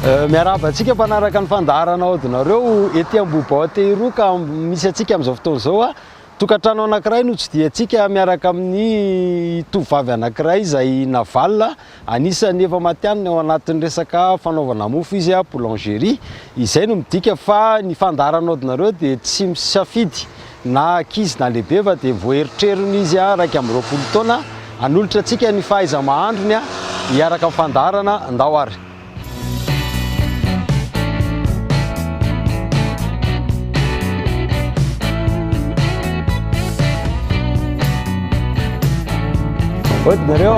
Eh, miarahaba antsika mpanaraka ny fandaharana aodinareo ety Ambohibao Tehiroa ka misy antsika amin'izao fotoana izao a ah. tokantrano anankiray no tsidihantsika miaraka amin'ny tovovavy anankiray izay navalina anisan'ny efa matianina ao anatin'ny resaka fanaovana mofo izy a ah, boulangerie izay no midika fa ny fandaharana aodinareo dia tsy misafidy na ankizy na lehibe fa dia voaeritrerin' izy iraika amby roapolo taona hanolotra antsika ny fahaiza-mahandrony hiaraka amin'ny fandaharana Ndao ary. Ody nareo!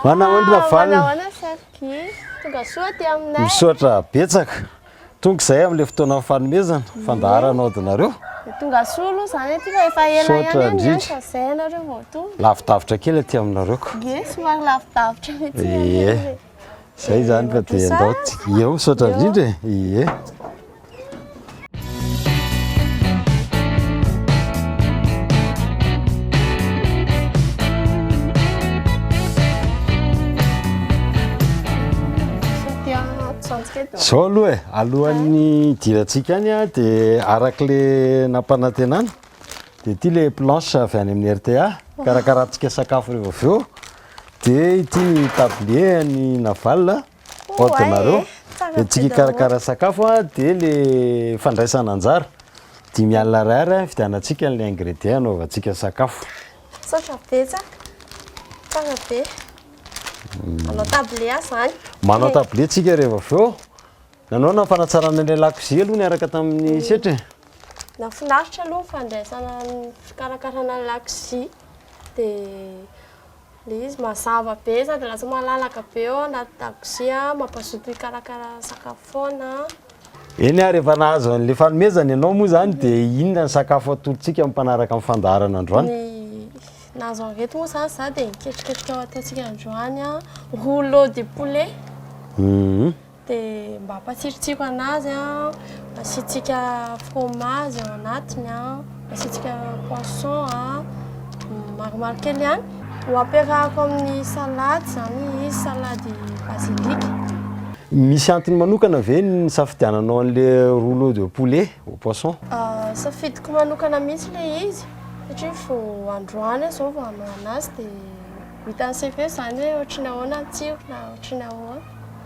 Manahonana valiny? Hi, tonga soa aty aminay. Misaotra betsaka. Tonga izay amin'ilay fotoanan'ny fanomezana, fandaharana ao dinareo. Dia tonga soa aloha izany aty fa efa ela ihany Misaotra ny indrindra. asa, izay ianareo vao tonga. Lavidavitra kely aty aminareo ko. Ie, somary lavidavitra mihitsy ny Ie. anay. Izay izany fa dia andao tsika. Eo, misaotra indrindra e. Ie. Zao aloha e, alohan'ny hidirantsika any dia arak'le nampanantenana dia ity le planche avy any amin'ny RTA, karakarantsika sakafo rehefa avy eo. Dia ity ny tablier an'i Naval. Ohatra nareo dia antsika hikarakara sakafo dia le fandraisana anjara dimy alina ariary hividianantsika an'ilay ingredient hanaovantsika sakafo. Misaotra betsaka, tsara be. Manao table aho izany. Manao table tsika rehefa avy eo. Nanaona ny fanatsarana ilay lakozia aloha niaraka tamin'ny setra e. Nahafinaritra aloha ny fandraisana ny fikarakarana ny lakozia dia. Ilay izy mazava be sady lasa malalaka be ao anaty dakozia, mampazoto hikarakara sakafo foana. Eny ary efa nahazo an'ilay fanomezana ianao moa izany dia inona ny sakafo atolotsika amin'ny mpanaraka amin'ny fandaharana androany? Ny nahazo an'ireto moa izany za dia ny ketriketrika ho ataontsika androany, rouleau de poulet. Dia mba ampatsirotsiro an'azy an, asiantsika fromage ao anatiny an, asiantsika poisson an, maromaro kely ihany. Ho ampiarahako amin'ny salade izany izy, salade basilic. Misy antony manokana ve ny nisafidiananao an'ilay rouleau de poulet au poisson? Safidiko manokana mihitsy ilay izy satria vao androany aho izao vao hanao an'azy dia ho hitan'ny sefo eo izany hoe ohatry ny ahoana ny tsirony na ohatry ny ahoana.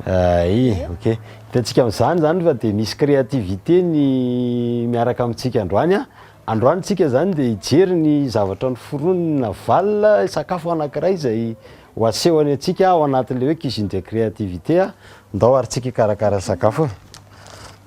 Ay, ok. Hitantsika amin'izany izany fa dia misy créativité ny miaraka amintsika androany. Androany tsika izany dia hijery ny zavatra noforoniny Naval, sakafo anankiray izay ho asehony antsika ao anatin'ilay hoe cuisine de créativité. Ndao ary tsika hikarakara sakafo.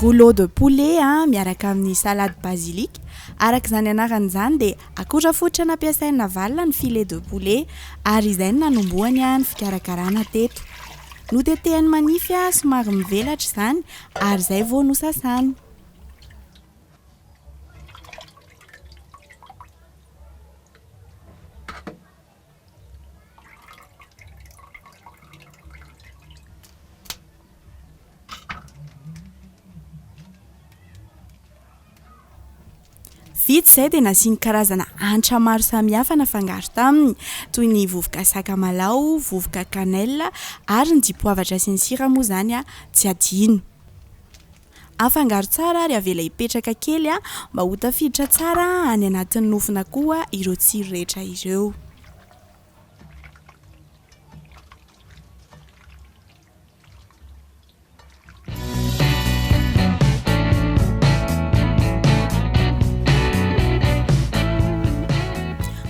Rouleau de poulet miaraka amin'ny salade basilic. Araka izany anarany izany dia akora fototra nampiasain'i Navalona ny filet de poulet ary izay no nanombohany ny fikarakarana teto. Notetehany manify somary mivelatra izany ary izay vao nosasany. Vitsy izay dia nasiany karazana hanitra maro samihafa nafangaro taminy, toy ny vovoka sakamalaho, vovoka cannelle ary ny dipoavatra sy ny sira moa izany tsy adino. Afangaro tsara ary avela hipetraka kely mba ho tafiditra tsara any anatin'ny nofona koa ireo tsiro rehetra ireo.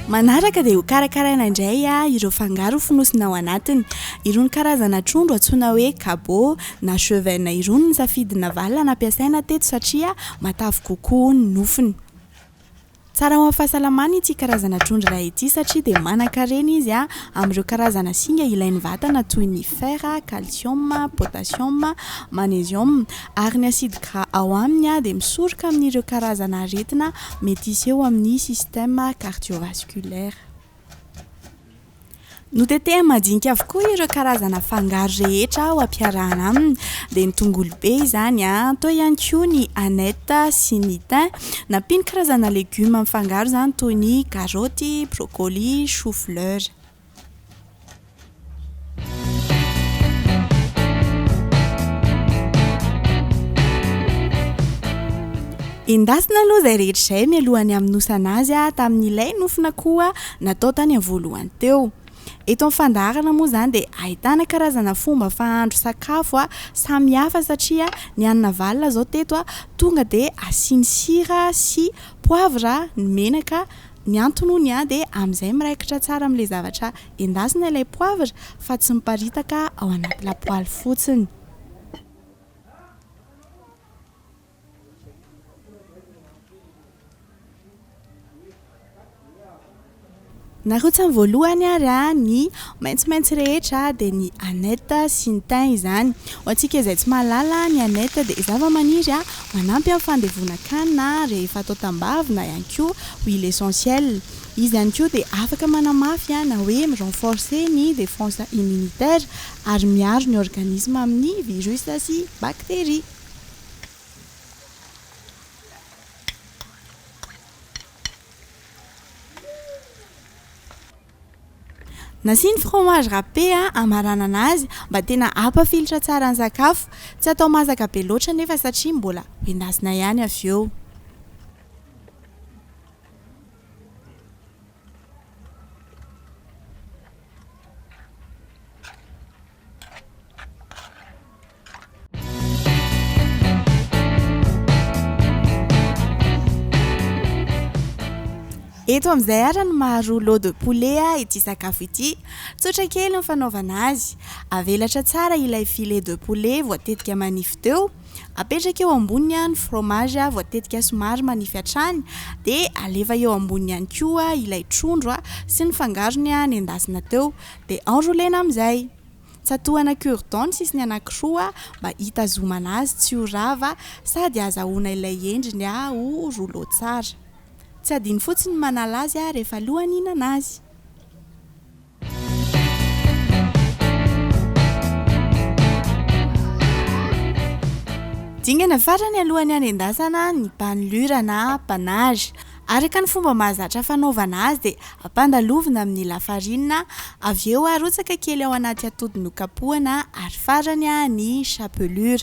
Manaraka dia ho karakaraina indray ireo fangaro fonosina ao anatiny. Irony karazana trondro antsoina hoe kabo. na chevaines irony ny safidy navalona nampiasaina teto satria matavy kokoa ny nofony. Tsara ho an'ny fahasalamana ity karazana trondro iray ity satria dia manan-karena izy amin'ireo karazana singa ilain'ny vatana toy ny fer, calcium, potassium, magnesium ary ny acide gras ao aminy dia misoroka amin'ireo karazana aretina mety hiseho amin'ny système cardiovasculaire. Notetehany madinika avokoa ireo karazana fangaro rehetra ho ampiarahana aminy, dia ny tongolo be izany, teo ihany koa ny aneth sy ny thym. Nampiany karazana legioma mifangaro izany toy ny karoty, broccoli, choux fleur. Endasina aloha izay rehetra izay mialohan'ny hamonosana azy tamin'ilay nofina koa natao tany amin'ny voalohany teo. Eto amin'ny fandaharana moa izany dia ahitana karazana fomba fahandro sakafo a samy hafa satria ny an'i Navalona izao teto a tonga dia asiany sira sy poivre ny menaka, ny antony hono dia amin'izay miraikitra tsara amin'ilay zavatra Endasina ilay poivre fa tsy miparitaka ao anaty lapoaly fotsiny. Narotsany voalohany ary ny maitsomaitso rehetra dia ny aneth sy ny thym izany. Ho antsika izay tsy mahalala, ny aneth dia zavamaniry manampy amin'ny fandevonan-kanina rehefa atao tambavy na ihany koa huile essentielle. Izy ihany koa dia afaka manamafy na hoe mi-renforcer ny défense immunitaire ary miaro ny organisme amin'ny virus sy bactéries. Nasiany fromage râpé hamaranana azy mba tena hampafilotra tsara ny sakafo. Tsy atao masaka be loatra anefa satria mbola ho endasina ihany avy eo. Eto amin'izay ara ny maharoa lot de poulet ity sakafo ity. Tsotra kely ny fanaovana azy. Avelatra tsara ilay filet de poulet voatetika manify teo. Apetraka eo amboniny ny fromage voatetika somary manify hatrany dia alefa eo amboniny ihany koa ilay trondro sy ny fangarony nendasina teo dia enroulena amin'izay. Tsatohana cure dent ny sisiny anankiroa mba hitazomana azy tsy ho rava sady azahoana ilay endriny ho rouleau tsara. Tsy adino fotsiny ny manala azy rehefa alohan'ny hihinana azy. Dingana farany alohan'ny hanendasana ny banlura na panache. Araka ny fomba mahazatra fanaovana azy dia ampandalovina amin'ny lafarinina, avy eo arotsaka kely ao anaty atody nokapohana ary farany ny chapelure.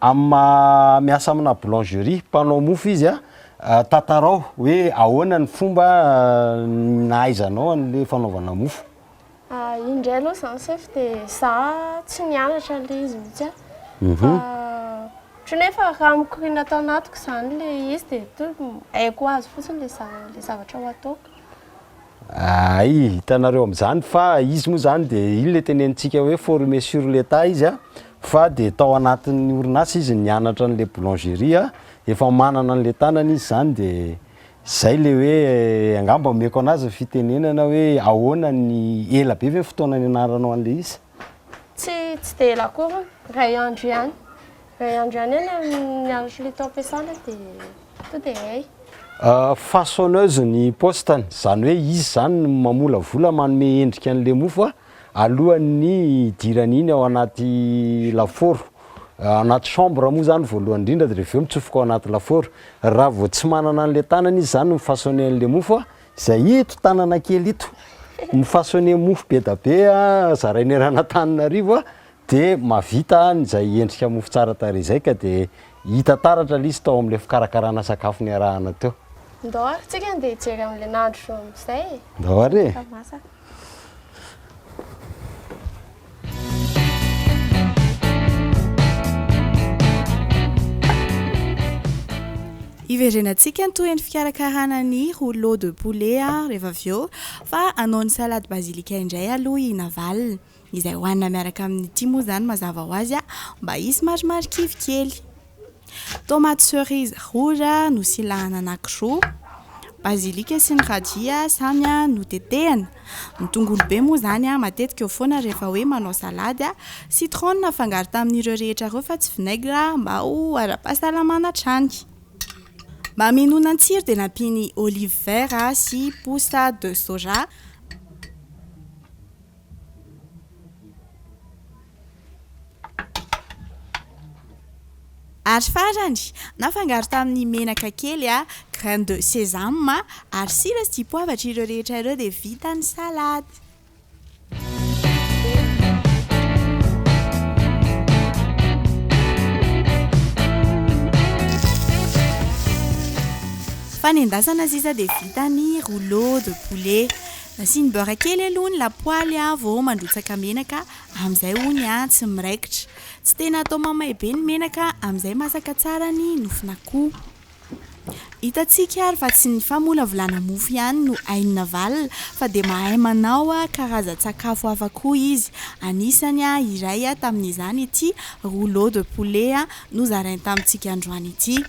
Amin'ny maha miasa amina boulangerie, mpanao mofo, izy, tantarao hoe ahoana ny fomba nahaizanao an'ilay fanaovana mofo? Iny indray aloha izany sefo dia za tsy nianatra an'ilay izy mihitsy fa ohatry ny hoe efa raha mikoriana tao anatiko izany ilay izy dia haiko ho azy fotsiny ilay zavatra ho ataoko. Ay, hitanareo amin'izany fa izy moa izany dia iny ilay tenenintsika hoe former sur le tas izy a, fa dia tao anatin'ny orinasa izy nianatra an'ilay boulangerie a, efa manana an'ilay tanany izy izany dia izay ilay hoe angamba omeko an'azy ny fitenenana hoe ahoana ny, ela be ve ny fotoana nianaranao an'ilay izy? Tsy, tsy dia ela akory, iray andro ihany. Iray andro ihany eo ny ny andro solitaom-piasana dia tonga dia hay. Façonneuse ny poste-ny, izany hoe izy izany no mamolavola, manome endrika an'ilay mofo a, alohan'ny hidirany iny ao anaty lafaoro. Anaty chambre moa izany voalohany indrindra dia avy eo mitsofoka ao anaty lafaoro. Raha vao tsy manana an'ilay tanany izy izany no mi-façonner an'ilay mofo a, Zay ito tanana kely ito mifasoner mofo bedabe a zarainy eran'Antananarivo a de mavita izay endrika mofo tsara tarehy izay ka de hita taratra le izy tao amle fikarakarana sakafo niarahana teo. Ndao ary tsika ndeha hijery an'le nandro amzay e! Ndao ary e! Efa masaka. Hiverenantsika ny tohin'ny fikarakarana ny rouleau de poulet rehefa avy eo fa hanao ny salade basilic indray aloha i Naval. Izay hohanina miaraka amin'ny tia moa izany mazava ho azy mba hisy marimarikivy kely. Tomate cerise rora nosilahana anankiroa, basilika sy ny radia samy notetehana. Ny tongolo be moa izany matetika eo foana rehefa hoe manao salady. Citron nafangaro tamin'ireo rehetra ireo fa tsy vinaigre mba ho ara-pahasalamana hatrany. Mba hamenoana ny tsiro dia nampiany olive vert sy pousse de soja. Ary farany, nafangaro tamin'ny menaka kely, graines de sésame, ary sira sy dipoavatra ireo rehetra ireo dia vita ny salade. Fanendasana sisa dia vita ny rouleau de poulet. Asiany beurre kely aloha ny lapoaly vao mandrotsaka menaka amin'izay hono an tsy miraikitra. Tsy tena atao mamay be ny menaka amin'izay masaka tsara ny nofon'akoho. Hitantsika ary fa tsy ny famolavolana mofo ihany no hain'i Navalona fa dia mahay manao karazan-tsakafo hafa koa izy. Anisany iray tamin'izany ity rouleau de poulet nozarainy tamintsika androany ity.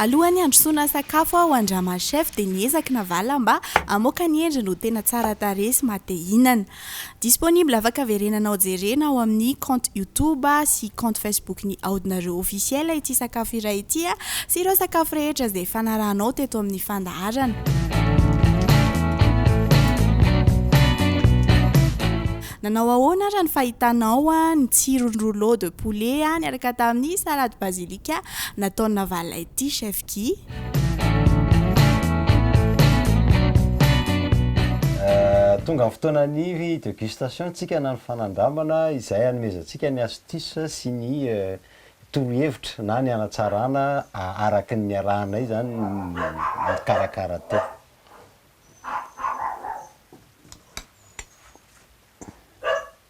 Alohan'ny handrosoana sakafo aho an-dRama Chef dia niezaky navala mba hamoaka ny endriny ho tena tsara tarehy sy maha te hihinana. Disponible afaka verenanao jerena ao amin'ny compte youtube sy compte facebook-n'i Aodinareo Officiel ity sakafo iray ity sy ireo sakafo rehetra izay efa narahanao teto amin'ny fandaharana. Nanao ahoana ary ny fahitanao ny tsiron'ny rouleau de poulet niaraka tamin'ny salade basilic? Ka nataony navalona ity chef Guy. Tonga ny fotoana ny degustation tsika na ny fanandramana izay hanomezantsika ny astuce sy ny torohevitra na ny hanatsarana araky ny niarahanay izany nikarakara teo.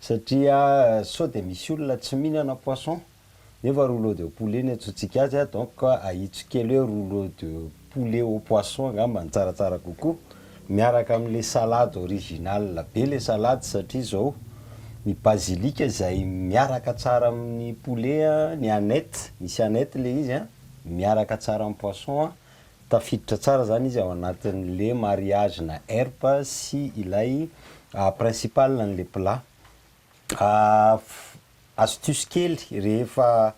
Satria sao dia misy olona tsy mihinana poisson nefa rouleau de poulet no iantsoantsika azy a, donc ahitsiko kely hoe rouleau de poulet au poisson angamba no tsaratsara kokoa, miaraka amin'ilay salade original be ilay salade satria izao ny basilic izay miaraka tsara amin'ny poulet, ny aneth, misy aneth ilay izy an, miaraka tsara amin'ny poisson an. Tafiditra tsara zany izy ao anatin'le mariage na erp sy ilay principal an'le plat. Astuce kely rehefa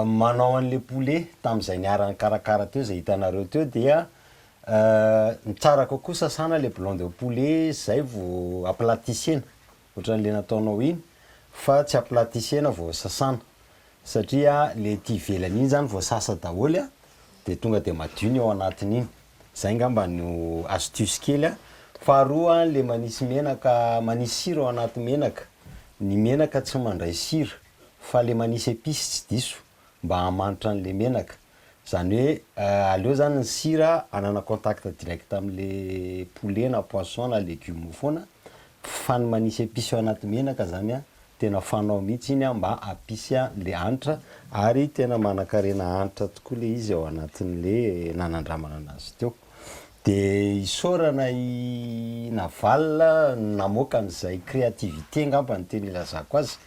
manao an'le poulet tam'zay niara-nikarakara teo zay hitanareo teo dia ny tsara kokoa sasana le blanc de poulet zay vao aplatissena ohatran le nataonao iny fa tsy aplatissena vao sasana satria le ety ivelany iny zany vao sasa daholo a de tonga de madio ny ao anatiny iny, zay ngamba no astuce kely a, faharoa le manisy menaka manisy sira ao anaty menaka, ny menaka tsy mandray sira fa le manisy epice tsy diso mba hamanitra an'le menaka, zany hoe aleo zany ny sira anana contact direct am'le poulet na poisson na legume foana fa ny manisy epice ao anaty menaka zany an tena fanao mihitsy iny an mba hampisy an'le hanitra ary tena manankarena hanitra tokoa le izy ao anatin'le nanandramana anazy teo. De isaorana i Naval namoaka an'izay créativité ngamba no tena ilazako azy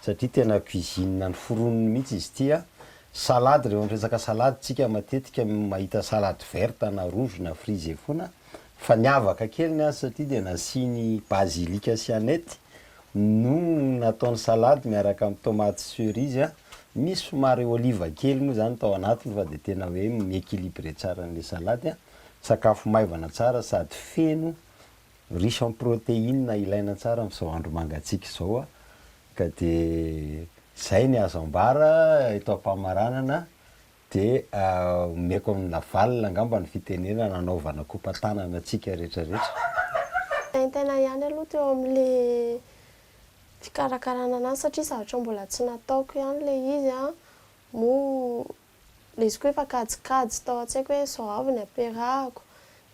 satria tena cuisine ny foroniny mihitsy izy ity an! Salade, rehefa miresaka salade tsika matetika mahita salade verte na rouge na frisé foana fa niavaka kely ny azy satria dia nasiany basilic sy aneth no nataony salade miaraka amin'ny tomates cerises an! Misy somary olive kely moa izany tao anatiny fa dia tena hoe mi-equilibrer tsara an'ilay salade an! Sakafo maivana tsara sady feno riche en protéine ilaina tsara amin'izao andro mangatsiaka izao ka dia izay ny azo ambara eto am-pamaranana dia omeko an'i Lavalina angamba ny fitenenana hanaovana kopa-tanana antsika rehetra rehetra. Mitaintaina ihany aloha teo amin'ilay fikarakarana an'azy satria zavatra mbola tsy nataoko ihany ilay izy moa Lesoko efa kajikajy tao an-tsaiko hoe zao avy ny ampiarahako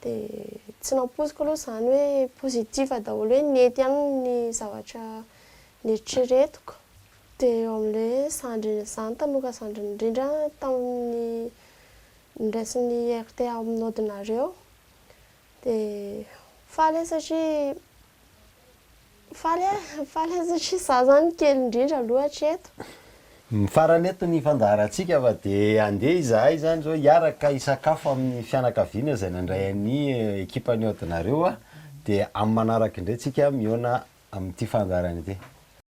dia tsy nampoiziko aloha izany hoe positif daholo hoe nety ihany ny zavatra neritreretiko dia eo amin'ilay hoe zandriny izany tanora zandriny indrindra tamin'ny niraisin'ny RTA amin'odinareo dia faly aho satria Faly aho, faly aho satria izaho izany kely indrindra aloha hatreto. Ny farany eto ny fandaharantsika fa dia handeha izahay izany izao hiaraka hisakafo amin'ny fianakaviana izay nandray an'i ekipan'ny Odinareo dia amin'ny manaraka indray tsika mihaona amin'ity fandaharana ity.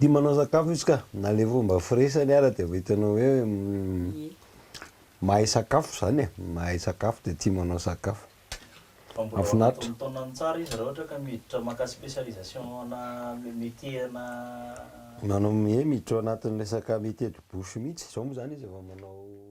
Tia manao sakafo izy ka, na le fomba firesany ara de efa hitanao hoe mahay sakafo zany e, mahay sakafo de tia manao sakafo. Fa mbola ao anatin'ny taonany tsara izy raha ohatra ka miditra maka spécialisation ana métier ana Manao ie miditra ao anatin'ny resaka métier de bouche mihitsy, zao moa zany izy efa manao.